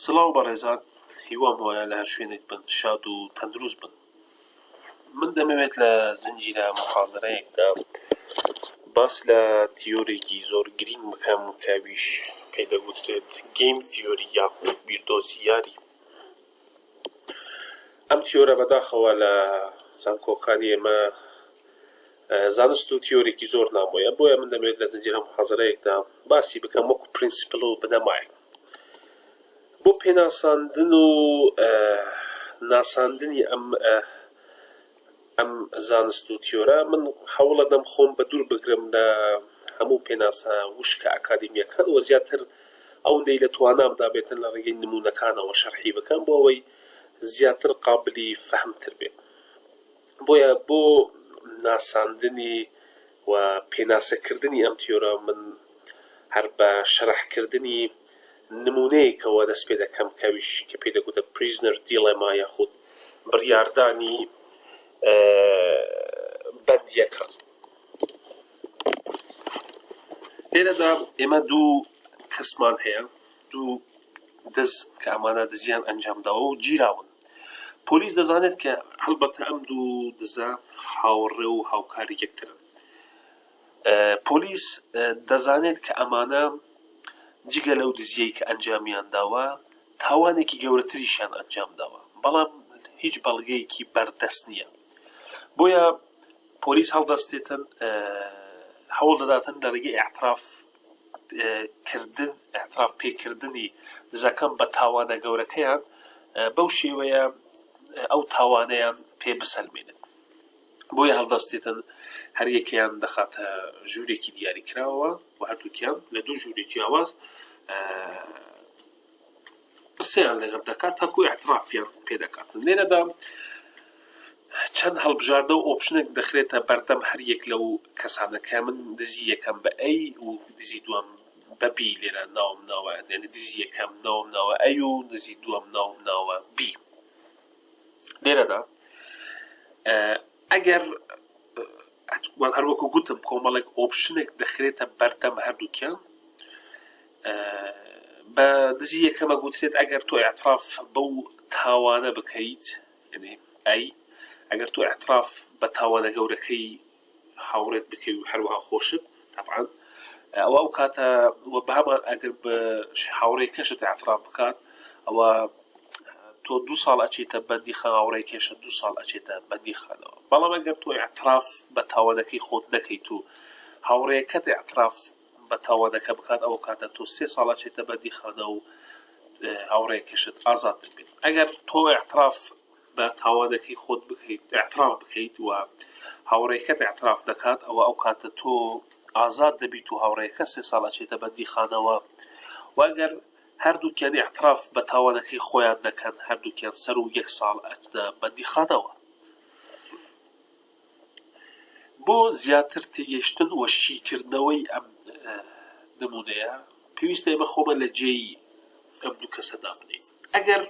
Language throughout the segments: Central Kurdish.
سڵاو بەڕێزان هیوام وایە لە هەر شوێنێک بن شاد و تەندروست بن من دەمەوێت لە زنجیرە محازرەیەکدا باس لە تیۆرێکی زۆر گرینگ بکەم کەویش پێدەگوترێت گەیم تیۆری یاخود بیردۆزی یاری ئەم تیۆرە بەداخەوە لە زانکۆکانی ئێمە زانست و تیۆرێکی زۆر نامۆیە بۆیە من دەمێت لە زنجیرە محازرەیەکدا باسی بکەم وەکو پرینسیپل و بنەمایە بۆ پێناساندن و ناساندنی ئەم ئەم زانست و تیۆرە من هەوڵەدەم خۆم بەدوور بگرم لە هەموو پێناسە وشکە ئەکادیمیەکان وە زیاتر ئەوەندەی لە توانامدا بێت لە ڕێگەی نمونەکانەوە شەرحی بکەم بۆ ئەوەی زیاتر قابلی فەهم تر بێت بۆیە بۆ ناساندنی و پێناسەکردنی ئەم تیۆرە من هەر بە شەرحکردنی نموونەیەکەوە دەست پێ دەکەم کەویش کە پێی دەگوتە Prisoner Dilemma یاخود بڕیاردانی بەندیەکان لێرەدا ئێمە دوو کەسمان هەیە دوو دز کە ئەمانە دزیان ئەنجامداوە و گیراون پۆلیس دەزانێت کە هەڵبەتە ئەم دوو دزە هاوڕێ و هاوکاری یەکترن پۆلیس دەزانێت کە ئەمانە جگە لەو دزییەی کە ئەنجامیان داوە، تاوانێکی گەورەتریشیان ئەنجام داوە، بەڵام هیچ بەڵگەیەکی بەردەست نییە، بۆیە پۆلیس هەڵدەستێتن هەوڵ دەداتن لە ڕێگەی ئیعتراف کردن، ئیعتراف پێکردنی دزەکان بە تاوانە گەورەکەیان، بەو شێوەیە ئەو تاوانەیان پێ بسەلمێنن. بۆیە هەڵدەستێتن هەر یەکەیان دەخاتە ژوورێکی دیاری کراوە و هەردووکیان لە دوو ژووری جیاواز قسەیان لەگەڵ دەکات تاکو اعترافیان پێ دەکات لێرەدا چەند هەڵبژاردە و ئۆپشنێک دەخرێتە بەردەم هەر یەک لەو کەسانەکە من دزی یەکەم بە ئەی و دزی دوم بەبی لێرە ناوم ناوە دێنە دزی یەکەم ناوم ناوە ئەی و دزی دوم ناوم ناوە بی لێرەدا ئەگەر هەروەکو گوتم کۆمەڵێک ئۆپشنێک دەخرێتە بەردەم هەردووکیان بە دزی یەکەمە گوترێت ئەگەر تۆ اعتراف بەو تاوانە بکەیت ئەی ئەگەر تۆ اعتراف بە تاوانە گەورەکەی هاوڕێت بکەوی و هەروەها خۆشت تەبعەن ئەوا ئەو کاتە وە بەهەمان ئەگر بە هاوڕێ کەشت ئەعتراف بکات ئەوە تۆ دو ساڵ ئەچێتە بەندی خان هاوڕێ کێشە دو ساڵ ئەچێتە بەندی خانەوە بەڵام ئەگەر تۆ ئەعتراف بە تاوانەکەی خۆت نەکەیت و هاوڕێکەت ئەعتراف بە تاوانەکە بکات ئەو کاتە تۆ سێ ساڵ ئەچێتە بەندی خانە و هاوڕێ کەشت ئازاد دەبێت ئەگەر تۆ ئەعتراف با تاوانەکەی خۆت بکەیت ئیعتراف بکەیت و هاوڕێکەت ئیعتراف نەکات ئەوە ئەو کاتە تۆ ئازاد دەبیت و هاوڕێکە سێ ساڵ ئەچێتە بەندیخانەوە و ئەگەر هەردووکیان ئیعتراف بە تاوانەکەی خۆیان دەکەن هەردووکیان سەر و یەک ساڵ ئەتنە بەندیخانەوە بۆ زیاتر تێگەشتن و شیکردنەوەی ئەم نمونەیە پێویستە ئێمە خۆمان لە جێی ئەم دوو کەسە دابنین ئەگەر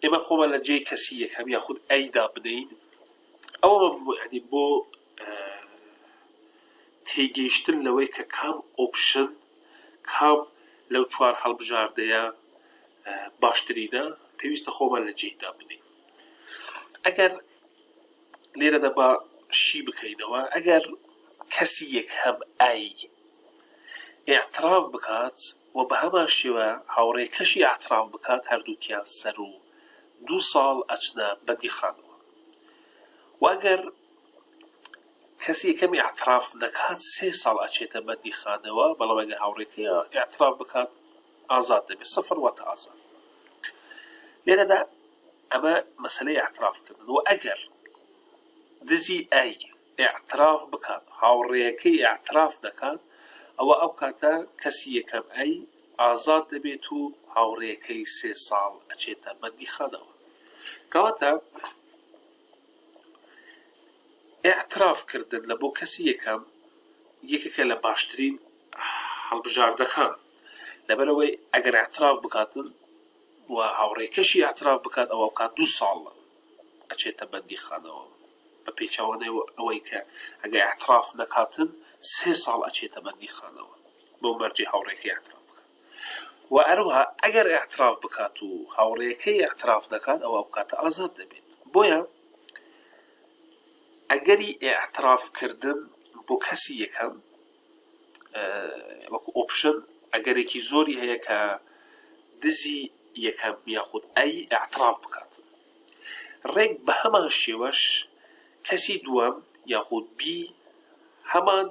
ئێمە خۆمان لە جێی کەسی یەکەم یاخود ئەیدا بدەین ئەوە ینی بۆ تێگەیشتن لەوەی کە کام ئۆپشن کام لەو چوار هەڵبژاردەیە باشترینە پێویستە خۆمان لە جێیدا بدەین ئەگەر لێرە دەبا شی بکەینەوە ئەگەر کەسی یەک هەم ئای اعتراف بکات و بە هەمان شێوە هاوڕێکەشی ئیعتراف بکات هەردووکیان سەروو دوو ساڵ ئەچنە بەندیخانەوە و ئەگەر کەس یەکەم ئیعتراف نەکات سێ ساڵ ئەچێتە بەندیخانەوە بەڵام ئەگەر هاوڕێکەی ئیعتراف بکات ئازاد دەبێت سەفەر واتە ئازاد لێرەدا ئەمە مەسلەی ئیعتراف کردن و ئەگەر دزی ئای ئیعتراف بکات هاوڕێیەکەی ئیعتراف دەکات ئەوا ئەو کاتە کەسی یەکەم ئەی ئازاد دەبێت و هاوڕێیەکەی سێ ساڵ ئەچێتە بەندیخانەوە کەواتە ئیعتراف کردن لە بۆ کەسی یەکەم یەکێکە لە باشترین هەڵبژاردەکان لەبەرەوەی ئەگەر ئاعتراف بکاتن و هاوڕێکەشی ئاعتراف بکات ئەوە کات دو ساڵە ئەچێتە بەندیخانەوە بە پێچەوانەی ئەوەی کە ئەگەر ئیعتراف نەکاتن سێ ساڵ ئەچێتە بەندیخانەوە بەو مەرجەی هاوڕێکەی ئیعتراف بکات وە هەروەها ئەگەر ئیعتراف بکات و هاوڕێکەی ئیعتراف نەکات ئەوا ئەو کاتە ئازاد دەبێت بۆیە ئەگەری ئیعتراف کردن بۆ کەسی یەکەم وەکو ئۆپشن ئەگەرێکی زۆری هەیە کە دزی یەکەم یاخود ئەی ئەعتراف بکات ڕێک بە هەمان شێوەش کەسی دووەم یاخود بی هەمان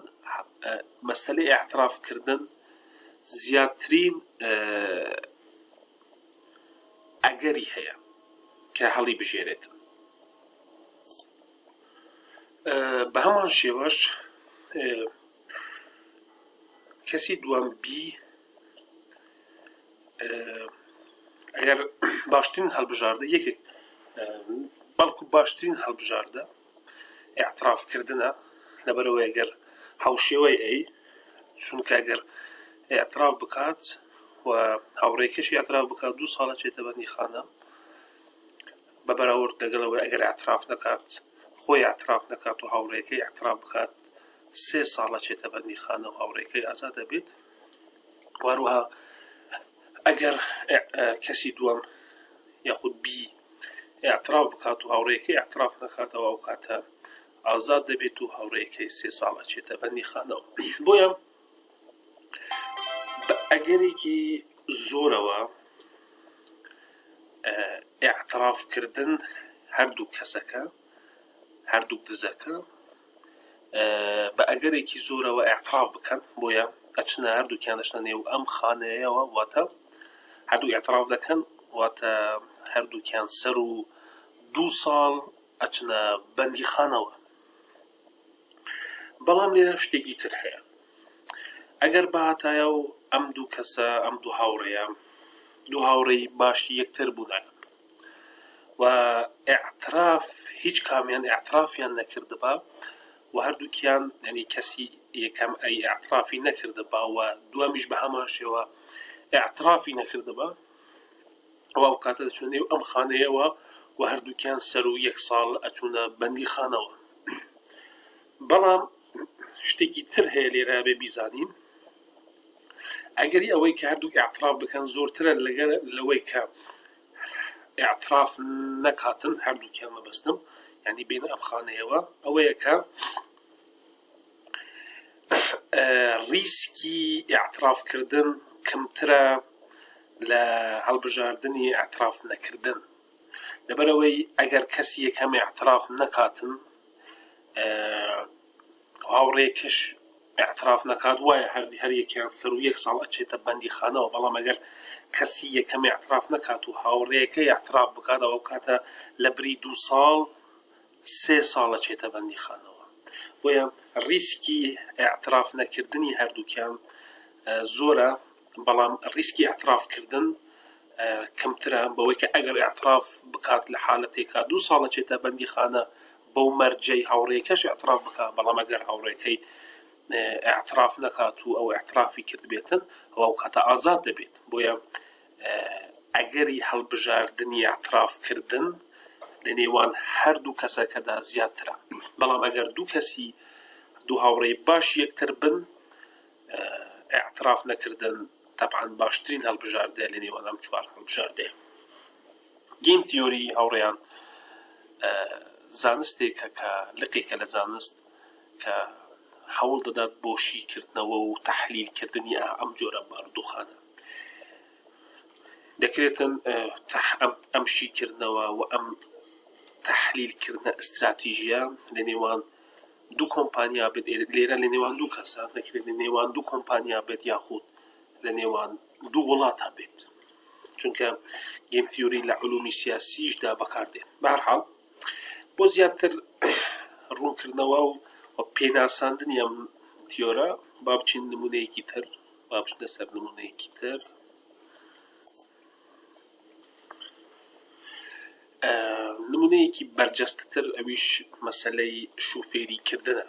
مەسلەی ئەعترافکردن زیاترین ئەگەری هەیە کە هەڵی بژێنێتن بە هەمان شێوەش کەسی دووەم بی ئەگەر باشترین هەڵبژاردە یەکێک بەڵکو باشترین هەڵبژاردە اعترافکردنە لەبەرەوە ئەگەر هاوشێوەی ئەی چونکە ئەگەر اعتراف بکات و هاوڕێکەشی اعتراف بکات دوو ساڵە چێتە بەندی خانە بە بەراورد لەگەڵ ئەوەی ئەگەر ئیعتراف نەکات، خۆی ئیعتراف نەکات و هاوڕێکەی ئیعتراف بکات، سێ ساڵ ئەچێتە بەندیخانە و هاوڕێکەی ئازاد دەبێت و هەروەها ئەگەر کەسی دووەم یاخود بی ئیعتراف بکات و هاوڕێکەی ئیعتراف نەکاتەوە ئەو کاتە ئازاد دەبێت و هاوڕێکەی سێ ساڵ ئەچێتە بەندیخانەوە بۆیە بە ئەگەرێکی زۆرەوە ئیعتراف کردن هەردوو کەسەکە هەردوو دزەکە بە ئەگەرێکی زۆرەوە ئیعتراف بکەن بۆیە ئەچنە هەردووکیان دەشتە نێو ئەم خانەیەوە واتە هەردوو ئیعتراف دەکەن واتە هەردووکیان سەر و دوو ساڵ ئەچنە بەندیخانەوە بەڵام لێرە شتێکی تر هەیە ئەگەر باتایە و ئەم دوو کەسە ئەم دوو هاوڕێیە دوو هاوڕێی باشی یەکتر بوونەکە و اعتراف هیچ کامیان اعترافیان نەکردبا و هەردووکیان ینی کەسی یەکەم ئەی اعترافی نەکردبا و دوامیش بە هەمان شێوە اعترافی نەکردبا ئەوا ئەو کاتە دەچوونە نێو ئەم خانەیەوە و هەردووکیان سەر و یەک ساڵ ئەچوونە بەندی خانەوە بەڵام شتێکی تر هەیە لێرا بێ بیزانین ئەگەری ئەوەی کە هەردوو ئاعتراف بکەن زۆرترە لەگەر لەوەی کە ئاعتراف نەکاتن هەردووکیان مەبەستم ینی بین ئەم خانەیەوە ئەوەیە کە ڕیسکی ئیعتراف کردن کەمترە لە هەڵبژاردنی ئیعتراف نەکردن لەبەرئەوەی ئەگەر کەس یەکەم ئیعتراف نەکاتن هاوڕێکەش ئیعتراف نەکات وایە هەردی هەر یەکیان سەر و یەک ساڵ ئەچێتە بەندی خانەوە بەڵام ئەگەر کەسی یەکەم ئیعتراف نەکات و هاوڕێکە ئیعتراف بکاتەوە کاتە لە بری دوو ساڵ سێ ساڵە چێتە بەندیخانەوە، بۆیە ریسکی ئیعتراف نەکردنی هەردووکیان زۆرە، بەڵام ریسکی ئیعتراف کردن کەمترە، بەوەی کە ئەگەر ئیعتراف بکات لە حالەتێکا دوو ساڵە چێتە بەندیخانە بەو مەرجەی هاوڕێکەش ئیعتراف بکات، بەڵام ئەگەر هاوڕێکەی ئیعتراف نەکات و ئەو ئیعترافی کردبێتن ئەوا ئەو کاتە ئازاد دەبێت، بۆیە. ئەگەری هەڵبژاردنی ئیعتراف کردن لە نێوان هەردوو کەسەکەدا زیاترە، بەڵام ئەگەر دوو کەسی دوو هاوڕێی باشی یەکتر بن ئیعتراف نەکردن تەبعەن باشترین هەڵبژاردەیە لە نێوان ئەم چوار هەڵبژاردەیە. گەیم تیۆری هاوڕێیان زانستێکە کە لقێکە لە زانست کە هەوڵ دەدات بۆ شیکردنەوە و تەحلیلکردنی ئەم جۆرە بارودۆخانە. دەکرێتن ئەم شیکردنەوە و ئەم تحلیل کردنە استراتیژیە لە نێوان دوو کۆمپانیا بێت لێرە لە نێوان دوو کەسە دەکرێت لە نێوان دوو کۆمپانیا بێت یاخود لە نێوان دوو وڵاتە بێت چونکە گیم تیوری لە علومی سیاسیشدا بەکاردێن بارحاڵ بۆ زیاتر ڕوونکردنەوە و پێناساندنی ئەم تیۆرە با بچین نمونەیەکی تر با بچینە سەر نموونەیەکی تر نمونەیەکی بەرجەستتر ئەویش مەسلەی شوفێری کردنە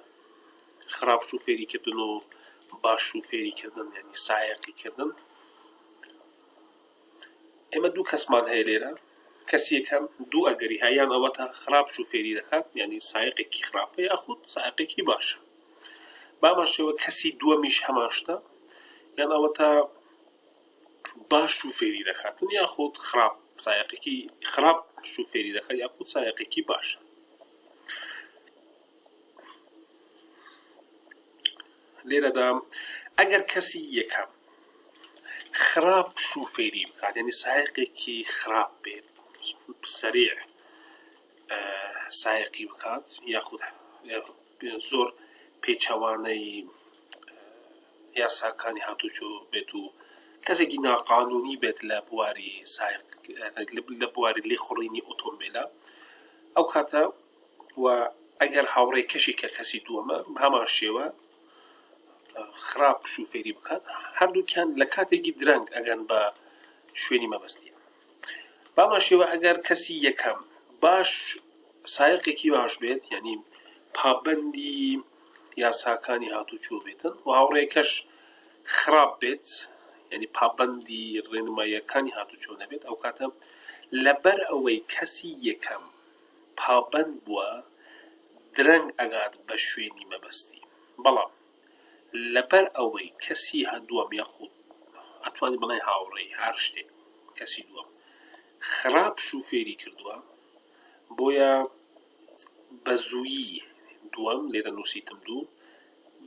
خراپ شوفێری کردن و باش شوفێری کردن یعنی سایەقی کردن ئێمە دوو کەسمان هەیە لێرە کەسیەکەم دوو ئەگەری هایان ئەوەتا خراپ شوفێری دەکات یعنی سایقێکی خراپەیە خود سایقێکی باشە بەهەمان شێوە کەسی دووەمیش هەمان شتە یان ئەوەتا باش شوفێری دەکات من یاخود خراپ سایقێکی خراپ شوفێری دەکات یاخود سایقێکی باشە لێرەدا ئەگەر کەسی یەکەم خراپ شوفێری بکات یعنی سایقێکی خراپ بێت سریع سایقی بکات یاخود زۆر پێچەوانەی یاساکانی هاتوچۆ بێت و کەسێکی ناقانونی بێت لە بواری سایق لە بواری لێخوڕینی ئۆتۆمبیلە ئەو کاتە و ئەگەر هاوڕێ کەشی کە کەسی دووەمە هەمان شێوە خراپ شوفێری بکات هەردووکیان لە کاتێکی درەنگ ئەگەن بە شوێنی مەبەستیان بەهەمان شێوە ئەگەر کەسی یەکەم باش سایەقێکی باش بێت یعنی پابەندی یاساکانی هاتوچۆ بێتن و هاوڕێکەش خراپ بێت یعنی پابەندی ڕێنماییەکانی هاتوچۆ نەبێت ئەو کاتە لەبەر ئەوەی کەسی یەکەم پابەند بووە درەنگ ئەگات بە شوێنی مەبەستی بەڵام لەبەر ئەوەی کەسی هەدووەم یاخود ئەتوانی بڵێ هاوڕێی هەر شتێک کەسی دووەم خراپ شوفێری کردووە بۆیە بە زوویی دووەم لێرە نووسیتم دوو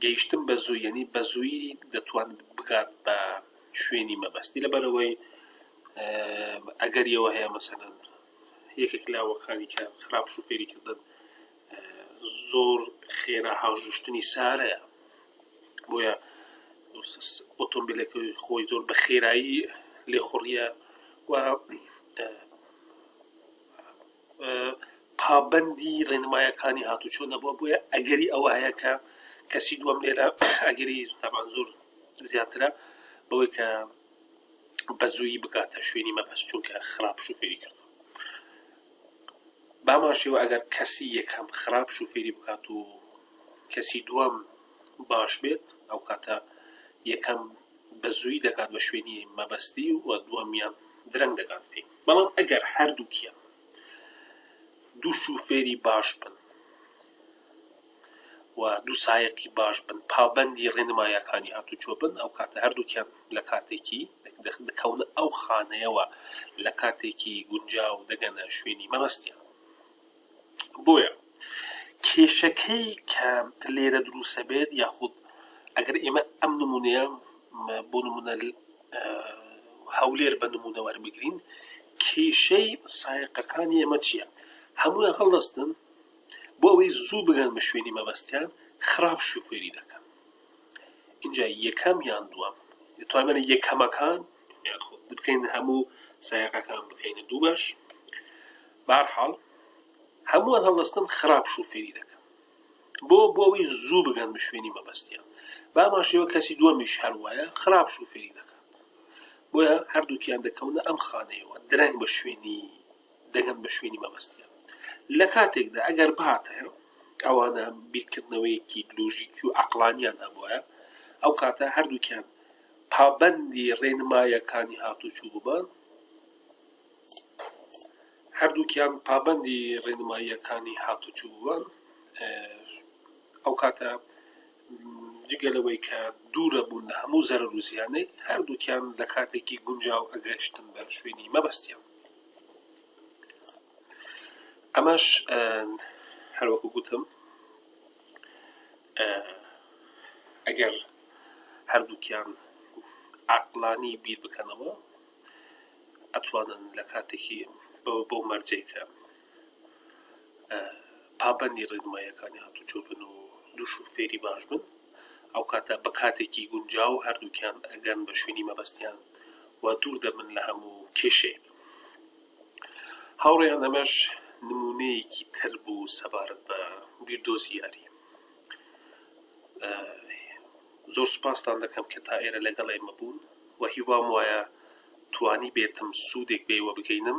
گەیشتم بە زوو یعنی بە زووی دەتوان بگات بە شوێنی مەبەستی لەبەرەوەی ئەگەریەوە هەیە مەسەن یەکێک لاوەکانی کە خراپ شوفێری کردن زۆر خێرا هاوژشتنی سارەیە بۆیە ئۆتۆمبیلەکە خۆی زۆر بە خێرایی لێخوڕیە و پابندی ڕێنمایەکانی هاتوچۆ نەبووە بۆیە ئەگەری ئەوە هەیە کە کەسی دووەم لێرە ئەگەری تامان زۆر زیاترە بەوەی کە بە زووی بکاتە شوێنی مەبەست چونکە خراپ شوفێری کرد بەهەمان شێوە ئەگەر کەسی یەکەم خراپ شوفێری بکات و کەسی دووەم باش بێت ئەو کاتە یەکەم بە زووی دەکات بە شوێنی مەبەستی و دووەمیان درەنگ دەکات پێی بەڵام ئەگەر هەردووکیان دوو شوفێری باش بن و دوو سایەقی باش بن، پابەندی ڕێنمایەکانی هاتوچۆ بن، ئەو کاتە هەردووکیان لە کاتێکی، دەکەونە ئەو خانەیەوە لە کاتێکی گونجاو و دەگەنە شوێنی مەبەستیان. بۆیە کێشەکەی کە لێرە دروست ئەبێت یاخود ئەگەر ئێمە ئەم نمونەیە بۆ نمونە هەولێر بە نمونە وەربگرین کێشەی سایەقەکانی ئێمە چییە؟ هەموویان هەڵدەستن بۆ ئەوەی زوو بگەن بە شوێنی مەبەستیان خراپ شوفێری دەکەن اینجا یەکەم یان دووەم دەتوانێت یەکەمەکان بکەین هەموو سایەکەکان بکەینە دوو بەش بارحاڵ هەمووان هەڵستن خراپ شوفێری دەکەن بۆ بۆ ئەوەی زوو بگەن بە شوێنی مەبەستیان باماشەوە کەسی دووەمیش هەر وایە خراپ شوفێری دەکات بۆیە هەردووکیان دەکەونە ئەم خانەیەوە درەنگ بە شوێنی دەگەن بە شوێنی مەبەستیان لە کاتێکدا ئەگەر بهاتایە ئەوانە بیرکردنەوەیەکی لۆژیکی و عەقڵانیان هەبوایە ئەو کاتە هەردووکیان پابەندی ڕێنمایەکانی هاتوچوو ببان هەردووکیان پابەندی ڕێنماییەکانی هاتوچوو بووان ئەو کاتە جگە لەوەی کە دوورە بوون لە هەموو زەرەر و زیانەی هەردووکیان لە کاتێکی گونجاو ئەگەشتن بە شوێنی مەبەستیان ئەمەش هەر وەکو گوتم ئەگەر هەردووکیان عقلانی بیر بکەنەوە ئەتوانن لە کاتێکی بەوە بۆ مەرجێکە پابەندی ڕێنمایەکانی هاتو چۆبن و دووش و فێری باش بن ئەو کاتە بە کاتێکی گونجاو هەردووکیان ئەگەن بە شوێنی مەبەستیان و دوور دەبن لە هەموو کێشەیەک. هاوڕێیان ئەمەش نموونەیەکی تر بوو سەبارەت بە بیردۆزی یاری. زۆر سوپاستان دەکەم کە تا ئێرە لەگەڵ ئێمە بوون و هیوام وایە توانی بێتم سوودێک بێوە بگەینم